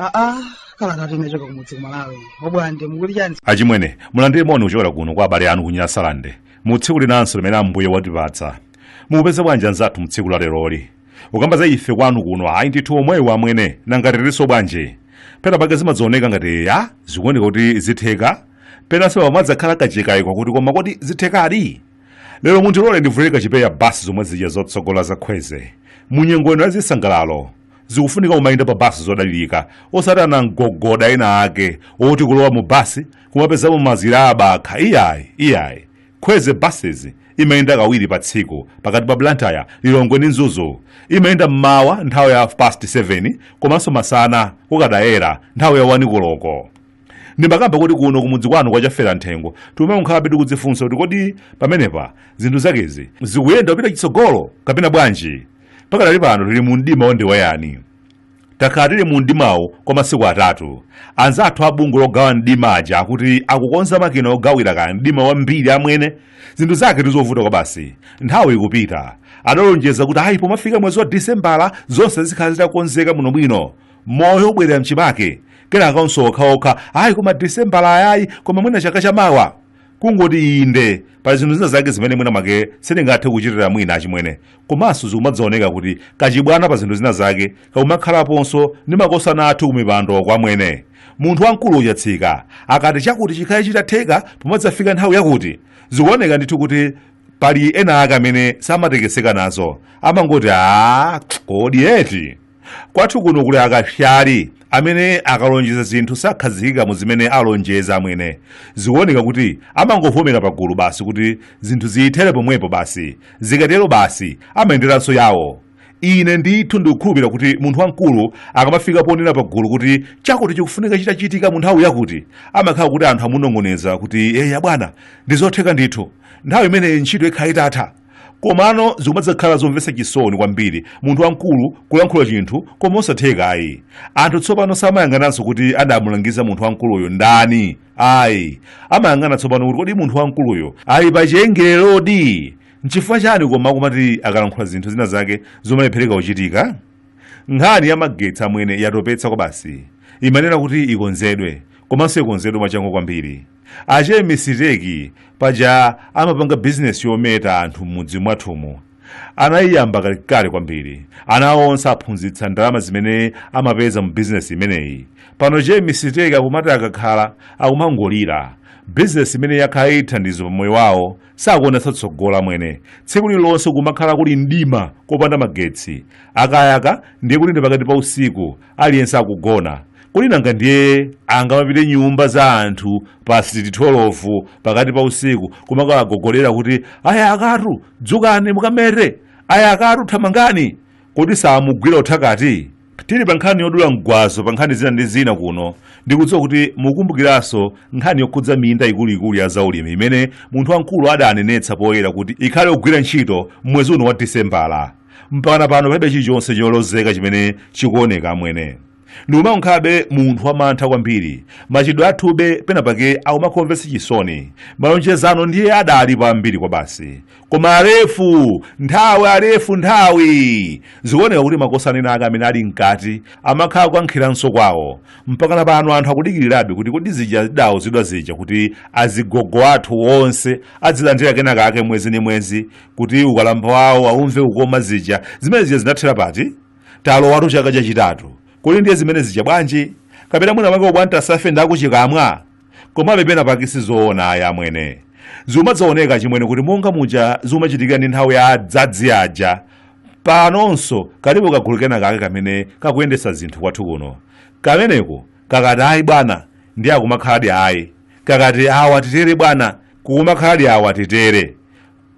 aa kalatatu inachoka kumudzi kumalawi obwande mukuti chani achimwene mulandire moni kuchokera kuno kwa abale anu ku nyasalande mu tsiku linanso limene ambuye watipatsa mukupeza bwanji anzathu mu tsiku la leroli ukamba za ife kwanu kuno ayi ndithu omwewo amwene nanga tiliso bwanji pena pake zimadzaoneka ngati ya zikuoneka kuti zitheka penanso pamadzakhala kachikayiko kuti koma kodi zithekadi lero mundilole ndivulire kachipewa basi zomwe zija zotsogola za kwezy munyengo ino yazisangalalo zikufunika kumayenda pa basi zodalirika osati anamgogoda ena ake oti kulowa mu basi kumapezamo mazira abakha iyayi iyayi Kwezy buses imayenda kawiri pa tsiku pakati pa Blantyre, Lilongwe ndi Mzuzu. Imayenda m'mawa nthawi ya half past 7 komanso masana kukadayera nthawi ya 1 koloko. Ndimakamba kuti kuno kumudzi kwanu kwa Chafera Mthengo tikumakhalabe tikudzifunsa kuti kodi pamenepa zinthu zakezi zikuyenda kupita chitsogolo kapena bwanji? Pakadali pano tili mu mdima wandiweyani. takhala tili mu mdimawu kwa masiku atatu anzathu a bungwe logawa mdima aja akuti akukonza makina ogawira kaya mdima wambiri amwene zinthu zaketu zovuta kwabasi nthawi ikupita adalonjeza kuti ayi pomafika mwezi wa disembala zonse zikhala zitakonzeka bwinobwino moyo ubwerera mchimake kenakanso okhaokha ayi koma disembala ayayi koma mwina chaka chamawa kungoti inde pali zinthu zina zake zimene mwina mwake sindingathe kuchitira mwina achimwene komanso zikumadzaoneka kuti kachibwana pa zinthu zina zake kakumakhalaponso ndi makosana athu kumipandoku amwene munthu wamkulu ochatsika akati chakuti chikhale chitatheka pomadzafika nthawi yakuti zikuoneka ndithu kuti pali ena ake amene samatekeseka nazo amangoti a kodi eti kwathu kuno kuli akapsala amene akalonjeza zinthu sakhazikika mu zimene alonjeza amwene zikuoneka kuti amangovomera pagulu basi kuti zinthu ziyithere pomwepo basi zikatero basi amayenderanso yawo ine ndithu ndikukhulupirira kuti munthu wamkulu akamafika ponena pagulu kuti chakuti chikufunika chitachitika mu nthawi yakuti amakhala kuti anthu amunong'oneza kuti eya bwana ndizotheka ndithu nthawi imeneyi ntchito ikhala itatha komano zikumadzakhala zomvetsa chisoni kwambiri munthu wamkulu kulankhula chinthu koma osatheka ayi anthu tsopano samayang'ananso kuti adamulangiza munthu wamkuluyo ndani ayi amayang'ana tsopano kuti kodi munthu wamkuluyo ali pa chiongolerodi nchifukwa chani koma akumati akalankhula zinthu zina zake zomalephereka kuchitika nkhani ya magetsi amwene yatopetsa kwabasi imayenera kuti ikonzedwe komanso ikonzedwe mwachangu kwambiri Ache misiteki paja amapanga bizinesi yometa anthu m'mudzi mwathumu anayiyamba kalekale kwambiri ana awo onse aphunzitsa ndalama zimene amapeza mu bizinesi imeneyi pano che misiteki akumati akakhala akumangolira bizinesi imene yakhala ili thandizo pa moyo wawo sakuonetsa tsogolo amwene tsiku lililonse kumakhala kuli mdima kopanda magetsi akayaka ndiye kuti ndi pakati pa usiku aliyense akugona kodi nanga ndiye angamapite nyumba za anthu past 12 pakati pa usiku kumakawagogodera kuti aya akatu dzukani mukamete aya akatu thamangani kodi samugwira uthakati tili pa nkhani yodula mgwazo pa nkhani zina ndi zina kuno ndikudziwa kuti mukumbukiranso nkhani yokhudza minda ikuluikulu ya zaulimi imene munthu wamkulu adanenetsa poyera kuti ikhale yogwira ntchito mwezi uno wa disembala mpakana pano palibe chilichonse cholozeka chimene chikuoneka amwene ndikumakhalabe munthu wamantha kwambiri machitidwe athube penapake akumakhala omvetsa chisoni malonjezano ndiye adalipo ambiri kwabasi koma alefu nthawi alefu nthawi zikuoneka kuti makosana ena ake amene ali mkati amakhala akukankhiranso kwawo mpakana pano anthu akudikirirabe kuti kodi zija tidauzidwa zija kuti azigogo athu onse adzilandira kenakake mwezi ndi mwezi kuti ukalamba wawo aumve kukoma zija zimene zija zinathera pati talowatu chaka chachitatu kodi ndiye zimene zija bwanji kapena mwina mwake obwantasafe ndakuchikamwa komabe penapake si zoona ayi amwene zimadzaoneka achimwene kuti monga muja zimachitikira ndi nthawi ya adzadzi aja panonso kalipo kagulu kena kake kamene kakuyendetsa zinthu kwathu kuno kameneko kakati ayi bwana ndiye akumakhaladi ayi kakati awa titere bwana kukumakhaladi awa titere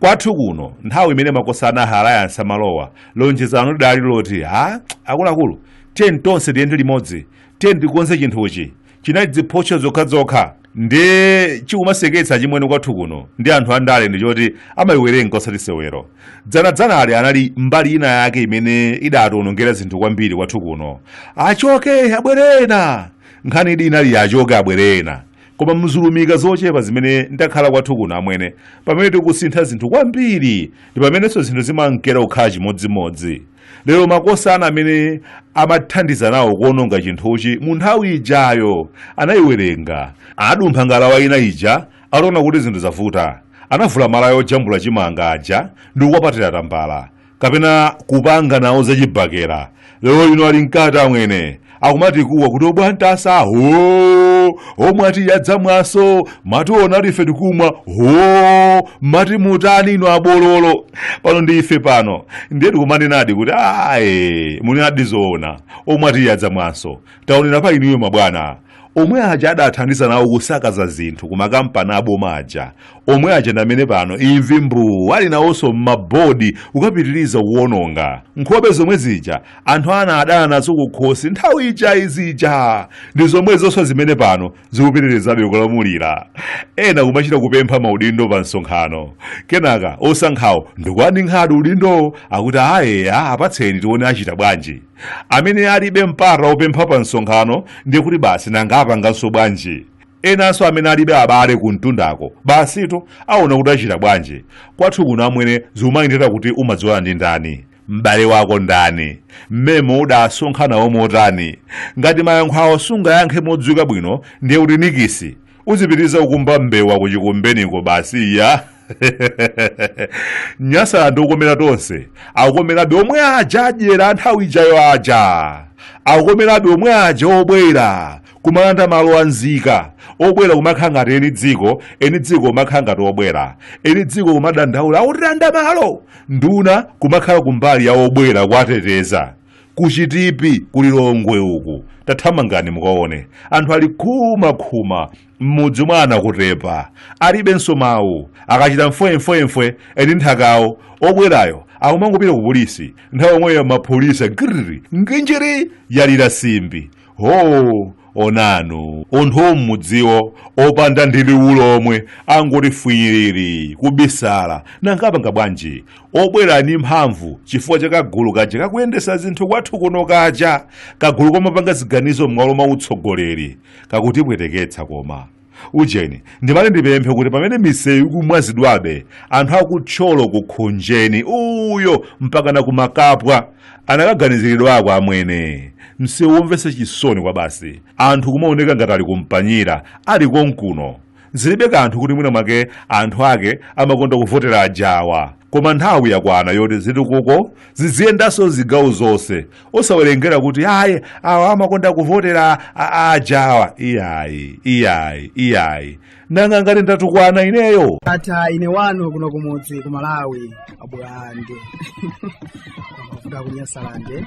Kwathu kuno nthawi imene makosana a Alliance amalowa, lonjezano lidali loti ha akuluakulu tiyeni tonse tiyende limodzi, tiyeni tikonze chinthuchi. Chinali dziphotcho zokhazokha. Ndiye chikumaseketsa achimwene kwathu kuno ndi anthu andale ndi choti amaiwerenga osati sewero. Dzanadzanali anali mbali ina yake imene idatiwonongera zinthu kwambiri kwathu kuno. Achoke abwere ena! Nkhaniyidi inali ya achoke abwere ena. koma mu zilumika zochepa zimene ndakhala kwathu kuno amwene pamene tikusintha zinthu kwambiri ndi pamenenso zinthu zimankera kukhala chimodzimodzi lero makosana amene amathandiza nawo kuononga chinthuchi mu nthawi ijayo anayiwerenga anadumpha ngalawa ina ija ataona kuti zinthu zavuta anavula malaya ojambula chimanga aja ndi kukwapatira tambala kapena kupanga nawo zachibakera lero lino ali mkati amwene akumatikuwa kuti obwantasa ho omwa tiyi adzamwanso mationa ali ife tikumwa ho mati mutani inu abololo pano ndi ife pano ndiye tikumanenadi kuti ayi munenadi zoona omwa tiyi adzamwanso taonera pa inuyo mabwana omwe aja adathandiza nawo kusakaza zinthu ku makampani aboma aja omwe aja ndi amene pano imvi mbuu alinawonso m'mabodi kukapitiriza kuwononga nkhope zomwe zija anthu anadana nazo kukhosi nthawi ija zija ndi zomwezonso zimene pano zikupitirizabe kulamulira ena kumachita kupempha maudindo pa msonkhano kenaka osankhawo ndikuwaninkhadi udindowo akuti aye apatseni tione achita bwanji amene alibe mpata wopempha pa msonkhano ndiye kuti basi nanga apanganso bwanji enanso amene alibe abale ku mtundako basitu aona kuti achita bwanji kwathu kuno amwene zimayendera kuti umadziwana ndi ndani m'bale wako ndani mmemo udasonkhamo motani ngati mayankho awo sungayankhe modziwika bwino ndiye kuti nikisi uzipitiriza kukumba mbewa kuchikumbeniko basi ya nyasa ndi yokomera tonse akukomerabe omwe aja adyera nthawi ijayo aja akukomerabe omwe aja obwera kumalanda malo a nzika obwera kumakhala ngati eni dziko eni dziko kumakhala ngati obwera eni dziko kumadandaula akutilanda malo nduna kumakhala kumbali ya obwera kuwateteza kuchitipi ku lilongwe uku tathamangani mukaone anthu ali khumakhuma m'mudzi mwa nankutepa alibenso mawu akachita mfwemfwemfwe eni nthakawo obwerayo akumangopita ku polisi nthawi yomweyo mapolisi giriri unjiri yalira simbi hoo onani anthu ammudziwo opanda ndi liwu lomwe angoti fwiii kubisala nanga apanga bwanji obwera ndi mphamvu chifukwa cha kagulu kaja kakuyendetsa zinthu kwathu kuno kaja kagulu kamapanga ziganizo m'malo mwa utsogoleri kakutipweteketsa koma ujeni ndimati ndipemphe kuti pamene misewu ikumwazidwabe anthu aku thyolo ku khonjeni uyo mpakana ku makapwa anakaganiziridwako amwene msewu womvetsa chisoni kwabasi anthu kumaoneka ngati ali kumpanyira ali konkuno zilibe kanthu kuti mwina mwake anthu ake amakonda kuvotera ajawa koma nthawi yakwana yoti zitukuko ziziyendanso zigawo zonse osawerengera kuti ayi awa amakonda kuvotera ajawa iyayi iyayi iyayi nanga ngati ndatukwana ineyo ndatha ine wanu kuno kumudzi ku malawi abulande ku nyasalande